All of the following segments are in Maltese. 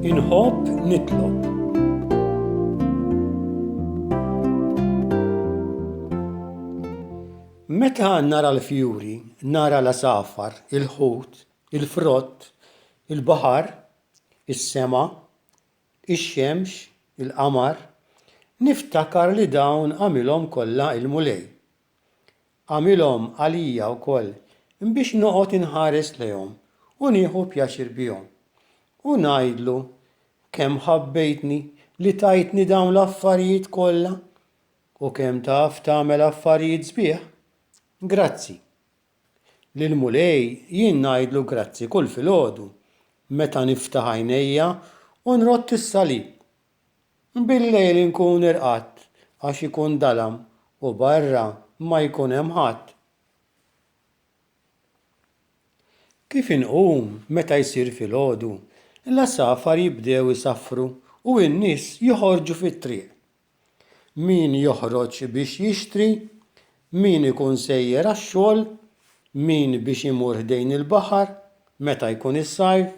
Inħobb nitlob. Meta nara l-fjuri, nara l-għasafar, il-ħut, il-frott, il-baħar, is-sema, ix-xemx, il-qamar, niftakar li dawn għamilhom kollha il-Mulej. Għamilhom għalija wkoll biex noqgħod inħares lejhom u nieħu pjaċir bihom. U ngħidlu, kemm ħabbejtni li tajtni dawn l-affarijiet kollha u kemm taf tagħmel affarijiet sbieħ. Grazzi. Lill-Mulej jien ngħidlu grazzi kull filgħodu meta niftaħ għajnejja u nrodd is-salib. Bil-lejl inkun irqadt għax ikun dalam u barra ma jkun hemm ħadd. Kif inqum meta jsir filgħodu, l-għasafar jibdew isaffru u n-nies joħorġu fit-triq. min joħroġ biex jixtri, min ikun sejjer għax-xogħol, min biex imur ħdejn il-baħar meta jkun is-sajf,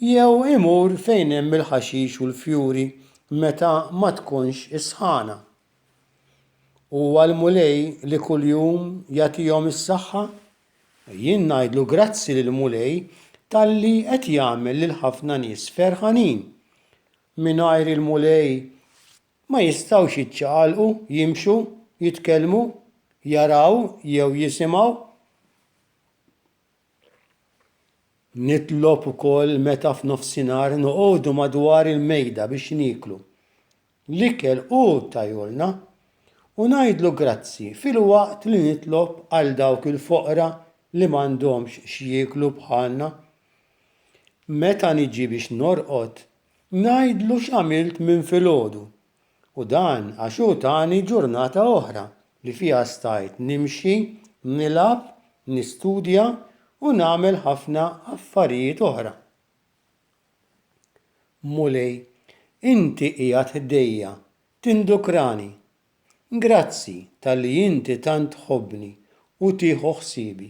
jew imur fejn hemm il-ħaxix u l-fjuri meta ma tkunx is-sħana. Huwa l-Mulej li kuljum jagħtihom is-saħħa. Jien ngħidlu grazzi lill-Mulej talli qed jagħmel lil ħafna nies ferħanin. mingħajr il-Mulej ma jistgħux jiċċaqalqu, jimxu, jitkellmu, jaraw jew jisimgħu. Nitlob ukoll meta f'nofsinhar noqogħdu madwar il-mejda biex nieklu. L-ikel hu tajolna u ngħidlu grazzi filwaqt li nitlob għal dawk il-foqra li m'għandhomx x'jieklu bħalna. Meta niġi biex norqod, ngħidlu x'għamilt minn filgħodu, u dan għax hu tani ġurnata oħra li fiha stajt nimxi, nilgħab, nistudja u nagħmel ħafna affarijiet oħra. Mulej, Inti qiegħed ħdejja, tindukrani. Grazzi talli Inti tant tħobbni u tieħu ħsiebi.